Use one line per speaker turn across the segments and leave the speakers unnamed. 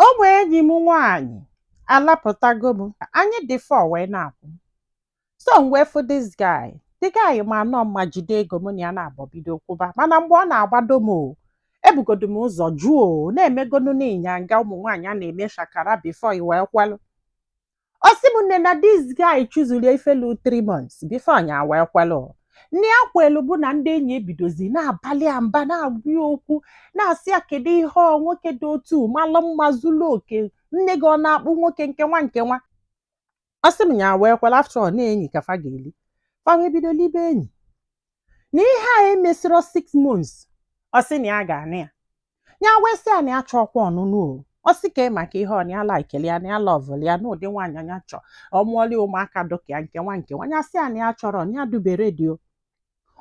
ụmụ enyi m nwaanyị alapụtago m anyị dị four wee na-akwụ so m wee fụ this guy the guy manụ mma jide ego mụ na ya naabọ bido kwụba mana mgbe ọ na-agbado m o ebugodu m ụzọ jụ o na-emegodu nụ ịnyanga ụmụ nwaanyị a na-eme shakara before e wee kwelụ ọ sị m nne na this guy chụzuru ya ife lu 3 months before nya wee kwelụ nne ya kwelu bụ na ndị enyi ebidozi na-abalị ya mba na-agwa ya okwu na-asị ya kedu ihe ọ nwoke dị otu malụ mma zuru oke nne gị ọ na-akpụ nwoke nke nwa nke nwa ọ sị m ya wee kwelụ after all na enyi ka fa ga-eli fa wee bido libe enyi na ihe a emesịrọ six months ọ sị na ya ga-anụ ya ya wee sị ya na ya achọrọkwa ọnụnụ o ọ sị ka ị maka ihe ọ na ya likelu ya na ya lọvụlụ ya na ụdị nwaanyị nya chọọ ọ mụọlụ ya ụmụaka dị ka ya nke nwa nke nwa ya sị ya na ya achọrọ na ya adịbe ready o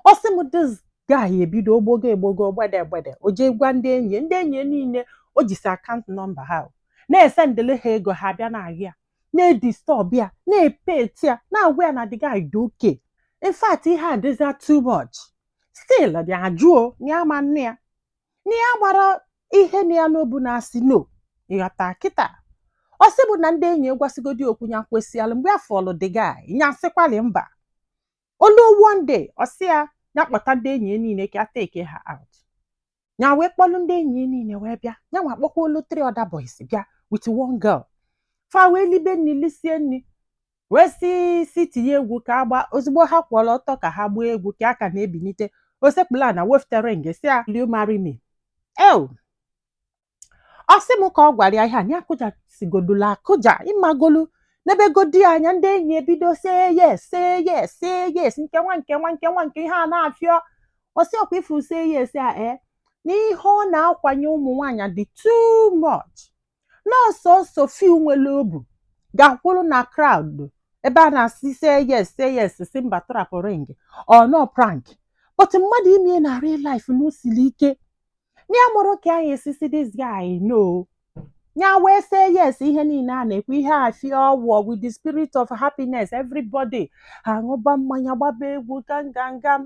ọ sị m this guy ebido ogbogo egbogo gbede gbede o jee gwa ndị enyi ya. ndị enyi ya niile o jisi account number ha o. na-esendịrị ha ego ha bịa na-ahịa na-edistọb ya na-epet ya na-agwa ya na the guy dị okay in fact ihe a dịzi too much still dị ajụ o na ya ma nne ya na ya amarọ ihe nọ ya n'obu na-asị no ịghọta kịta ọ sị bụ na ndị enyi agwasigodi okwu ya kwesịalụ mgbe ya fụlụ the guy ya sịkwalị mba o lu one day ọ sị ya ya kpọta ndị enyi ya niile ka ya take ha out ya wee kpọlụ ndị enyi ya niile wee bịa ya nwa kpọkwalụ three other boys bịa with one girl fa wee libe nni lisie nni wee sị sị tinye egwu ka a gbaa ozugbo ha kwụọlụ ọtọ ka ha gbaa egwu ka a ka na-ebinite o sekpulu ana wefute ring sị ya will you marry me ew ọ sị m ka ọ gwara ya ihe a ya kụjasigodulu akụja ịmagolu nebegodi anya ndị enyi ebido say yes say yes say yes nke nwa nke nwa nke nwa nke ihe a na-afịọ ọ sị ọkwa ị fụ say yes a ee na ihe ọ na-akwanye ụmụ nwaanyị dị too much na ọ sọọsọ few nwere obu ga-akwụrụ na crowd ebe a na-asị say yes say yes sị mba trapụ ring ọ na prank but mmadụ ime ya na real life na o siri ike na ya amarọ ka nya esi sị this guy no ya wee say yes ihe niile a na-ekwu ihe a fie ọwụọ with the spirit of happiness everybody aṅụba mmanya gbaba egwu gangangam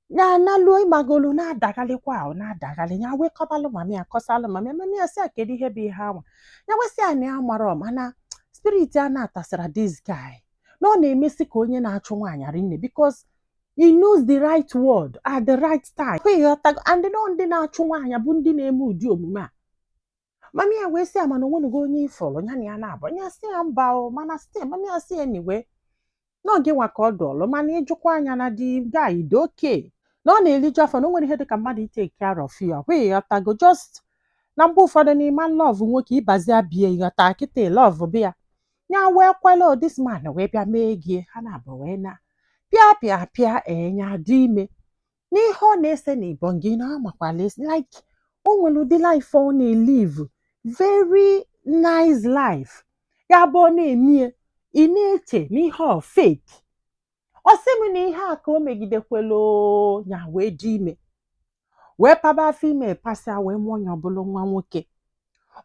ya analuo ịmagolu na-adagharịkwa ahụ na-adagharị ya wee kọbalụ mami ya kọsalụ mami mami ya sị ya kedu ihe bụ ihe a nwa ya wee sị ya na ya amarọ mana spirit ya anatasịrọ this guy na ọ na-emesi ka onye na-achụ nwaanyị rinne because he knows the right word at the right time ịghọtago and na ọ ndị na-achụ nwaanyị bụ ndị na-eme ụdị omume a mami ya wee sị ya mana o nwenugo onye ị fụrụ ya na ya naabọ ya sị ya mba o mana sị mami ya sị anyway na ọ gị nwa ka ọ dụụlụ mana i jikwa anya na the guy dị okay na ọ na-eliju afọ na o nwere ihe dịka mmadụ itake care of you ahụ ịghọtago just na mgbe ụfọdụ n'ime love nwoke ịbazi abịa ịghọta kịta love bịa ya wee kwelụ this man wee bịa mee ego ya ha naabọ wee na pịa pịa pịa nya dị ime n'ihe ọ na-ese na ibon gị na amakwala esi like o nwere ụdị life ọ na-elive very nice life ya bụ ọ na-emie ị na-eche na ihe ọ fake ọ sị m na ihe a ka o megidekwela oo, ya wee dị ime wee paba afọ ime pasịa wee mụọ nya ọ bụlụ nwa nwoke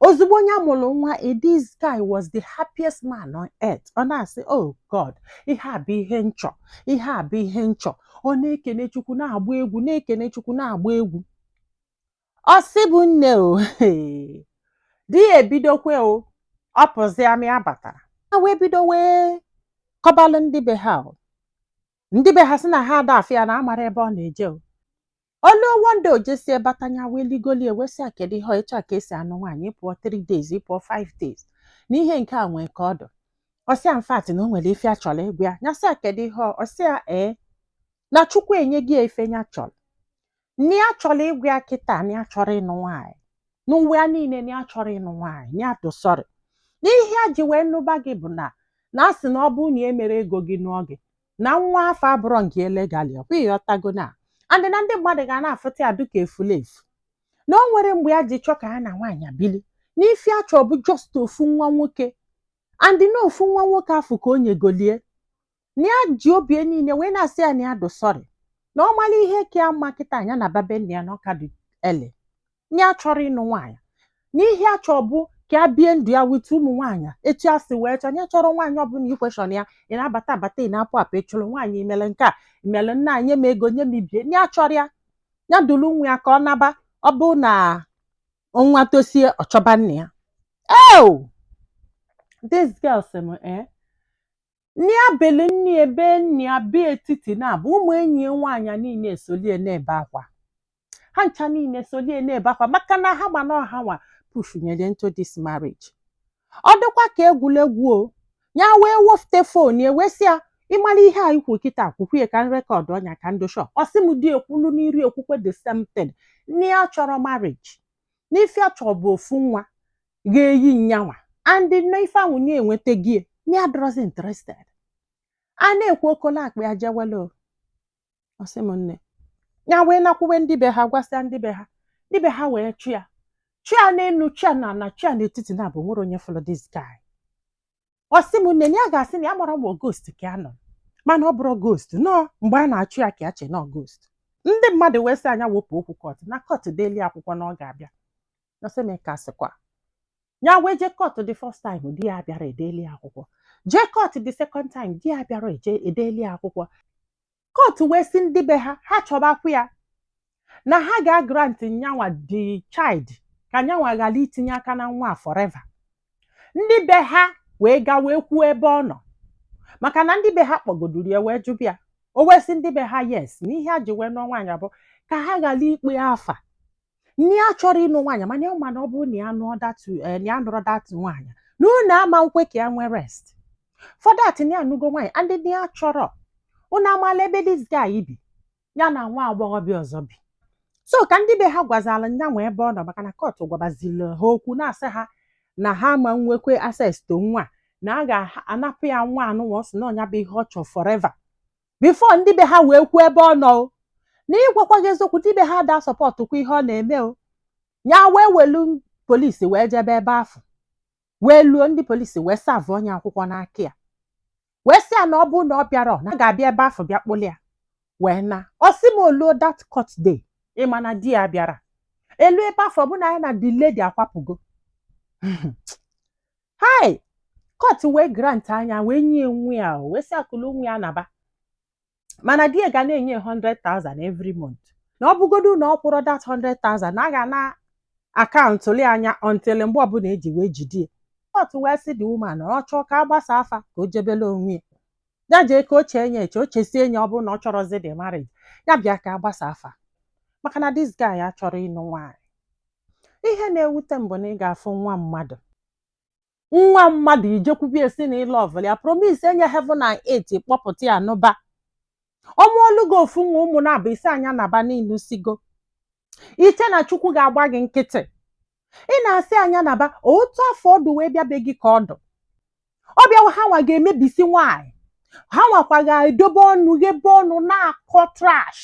ozugbo nya mụrụ nwa eh, this guy was the happiest man on earth ọ na-asị oh god ihe a bụ ihe m chọ ihe a bụ ihe m chọ ọ na-ekene chukwu na-agba egwu na-ekene chukwu na-agba egwu ọ sị bụ nne o di ya ebidokwa o ọ pụzia ọ ma abata ya wee bido wee kọbalụ ndị be ha o ndị be ha sị na ha ada afụ ya na amarọ ebe ọ na-eje o o lue one day o jesie bata nya wee ligolie wee sị ya kedu ihe ọ ị che ọ ka e si anụ nwaanyị ị pụọ 3 days ị pụọ 5 days na ihe nke a nwee ka ọ dụ ọ sị ya in fact na o nwere ife ya chọrọ ịgwa ya nya sị ya kedu ihe ọ- ọ sị ya ee na chukwu enyego ya ife ya chọrọ na ya chọrọ ịgwa ya kịta na ya achọrọ ịnụ nwaanyị n'ụwa ya niile na ya achọrọ ịnụ nwaanyị na ya dụ sorry na ihe ya ji wee nụba gị bụ na a na-asị na ọ bụrụ na emerọ ego gị n'oge na nwa afụ abụrọ nke ya legally ọ kwa ị ghọtago na and na ndị mmadụ ga na-afụta ya dịka efulefu na o nwerọ mgbe ya ji chọọ ka ya na nwaanyị bili na ife ya chọ bụ just ofu nwa nwoke and na ofu nwa nwoke afụ ka o nyegolu ya na ya ji obi ya niile wee na-asị ya na ya dụ sorry na ọ mara ihe ka ya mma kịta nya naba be nna ya na ọ ka dị early na ya achọrọ ịnụ nwaanyị na ihe ya chọ bụ ka ya bie ndụ ya with ụmụ nwaanyị etu ya si wee chọọ na ya achọrọ nwaanyị ọbụla iquestion ya ị na-abata abata ị na-apụ apụ ị chụrụ nwaanyị i mele nke a i mele nna nye m ego nye m ibie na ya achọrọ ya ya duru nwa ya ka ọ naba ọ bụ na nwa tosie ọ chọba nna ya oo this girl sị m ee Nya bee elu nya ebe ani ya ebe etiti naabọ ụmụ enyi ya nwaanyị a niile esolie na-ebe akwa. Ha ncha niile esolie na-ebe akwa maka na ha ma na ọ ha nwa pushnyere ya into this marriage. Ọ dịkwa ka egwuregwu o. Ya wee wefute fon ya wee sị ya, ị mara ihe a i kwu kịta kwukwa ya ka m recordọ nya ka m dị sure. Ọ sị m di ya kwụlụ n'iru ekwukwa the same thing. Na ya achọrọ marriage. Na ife ya chọrọ bụ ofu nwa. ga-eyi nyanwa and na ife ahụ nye enwetago ya na ya adịrọzi interested a na-ekwu o kolo akpa ya jewele o ọ sị m nne ya wee nakwuwe ndị be ha gwasịa ndị be ha ndị be ha wee chọọ ya chọọ ya n'elu chọọ ya n'ana chọọ ya n'etiti na abụ nwere onye fụrụ this guy ọ sị m nne na ya ga-asị na ya amarọ ma ghost ka ya nụọ mana ọ bụrụ ghost nọ mgbe a na-achụ ya ka ya chee na ọ ghost ndị mmadụ wee sị nya wepụ okwu court na court deeli akwụkwọ na ọ ga-abịa ọ sị m ka sịkwa ya wee jee court the first time di ya abịara e deeli akwụkwọ jee court the second time di ya abịara e deeli akwụkwọ court wee sị ndị be ha ha chọbakwa ya na ha ga-agrant nyanwa the child ka nyanwa ghara itinye aka na nwa a forever ndị be ha wee gaa wee kwuo ebe ọ nọ maka na ndị be ha kpọgoduru ya wee jụ ịbịa o wee sị ndị be ha yes na ihe a ji wee nụọ nwaanyị a bụ ka ha ghara ikpe afa na ya achọrọ ịnụ nwaanyị mana ọ ma na ọ bụ na ya anụrọ that nwaanyị na unu ama nkwe ka ya nwee rest for that na ya anụgo nwaanyị and na ya achọrọ unu amala ebe this guy bi ya na nwa agbọghọbịa ọzọ bi so ka ndị be ha gwazala nyanwa ebe ọ nọ maka na court gwabazili ha okwu na-asị ha na ha ma nwekwe access to nwa na a ga-anapụ ya nwa anụnwa ọ sị na ọ nya bụ ihe ọ chọrọ forever before ndị be ha wee kwuo ebe ọ nọ o na ịgwakwa gị eziokwu ndị be ha ada asupportkwa ihe ọ na-eme o ya wee welu police wee jebe ebe afụ wee luo ndị police wee serve nye akwụkwọ n'aka ya wee sị ya na ọ bụrụ na ọ bịara na a ga-abịa ebe afụ bịa kpụlụ ya wee na ọ sị m o luo that court day ịma na di ya abịara e luo ebe afụ bụ na ya na the lady akwapụgo hai court wee granta nya wee nye nwa ya wee sị ya kulu nwa ya naba mana di ya ga na-enye 100,000 every month na ọ bụgodu na ọ kwụrụ that 100,000 na a ga na-acountụlụ nya until mgbe ọbụla e ji wee jide ya court wee sị the woman na ọ chọọ ka a gbasa afa ka o jebele onwe ya ya jee ka o chee nye eche o chesie nye ọ bụrụ na ọ chọrọzi the marriage ya bịa ka a gbasa afa maka na this guy achọrọ ịnụ nwaanyị ihe na-ewute m bụ na ị ga-afụ nwa mmadụ nwa mmadụ i jekwube ya sị na ị lọvụlụ ya promise nye heaven and earth kpọpụta ya n'ụba ọ mụọlụ gị ofu nwa ụmụ naabọ ị sị nya naba na ị nụsịgo i che na chukwu ga-agba gị nkịtị ị na-asị nya naba otu afụ ọ dụ wee bịa be gị ka ọ dụ ọ bịawa ha nwa ga-emebisi nwaanyị ha nwakwa ga-edobe ọnụ ghebe ọnụ na-akọ trash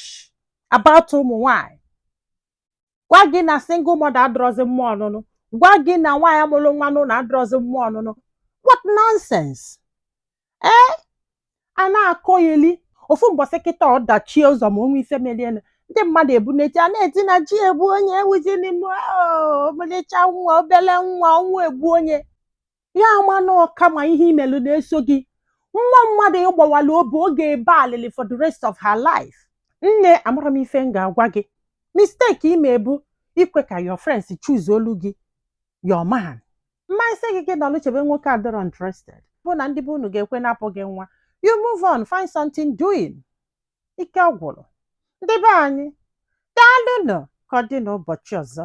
about ụmụ nwaanyị gwa gị na single mother adịrọzi mma ọnụnụ gwa gị na nwaanyị mụlụ nwa n'ụnọ adịrọzi mma ọnụnụ what nonsense ee a na-akọyeli ofu mbọsị kịta ọ dachie ụzọ ma o nwee ife melienụ ndị mmadụ ebu na-eti a na-eti na chi egbu onye ewuzi n'ime ọmalịcha nwa obele nwa ọnwa egbuo onwe ya a ma na ọ karma ihe i melu na-eso gị nwa mmadụ ị gbawala obi ọ ga-ebe alịlị for the rest of her life nne amarọ m ife m ga-agwa gị mistake i me bụ ikwe ka your friends choose olu gị your man m ma asị gị gị nọlụ chebe nwoke adịrọ interested bụ na ndị be unu ga-ekwe napụ gị nwa you move on find something doing ike ọ gwụrụ ndị be anyị daalụnụ ka ọ dị n'ụbọchị ọzọ